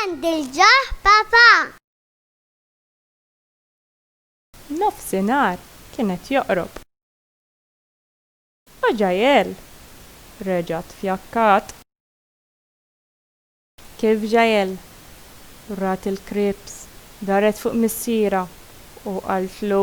Għandi l-ġoħ papà! Nofsinhar kien qed joqrob. O Jael! reġgħet fjakkat. Kif Jael? Rat il-krieps, daret fuq missierha u qaltlu.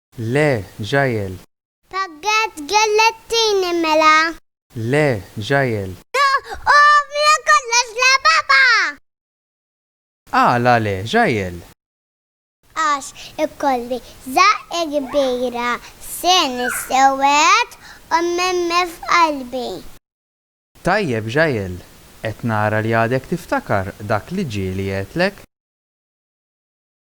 Le, Jael! Paget gellgħet tini mela. Le, Jael! Uff, mela kollox le papa! Għala le, Jael? Għax ikolli żaqqa kbira f'seni s-sewwed u mmemmi f'qalbi. Tajjeb, Jael, qed nara li għadek tiftakar dak li ġieli għedtlek.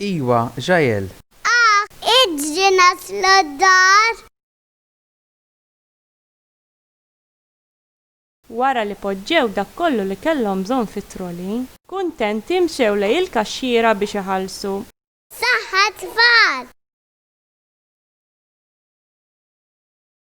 Iwa, Jael! Ahh! Iġri naslu d-dar! Wara li poġġew dak kollu li kellhom bżonn fit-troli. Kuntenti mxew lejn il-kaxxiera biex iħallsu. Saħħa tfal!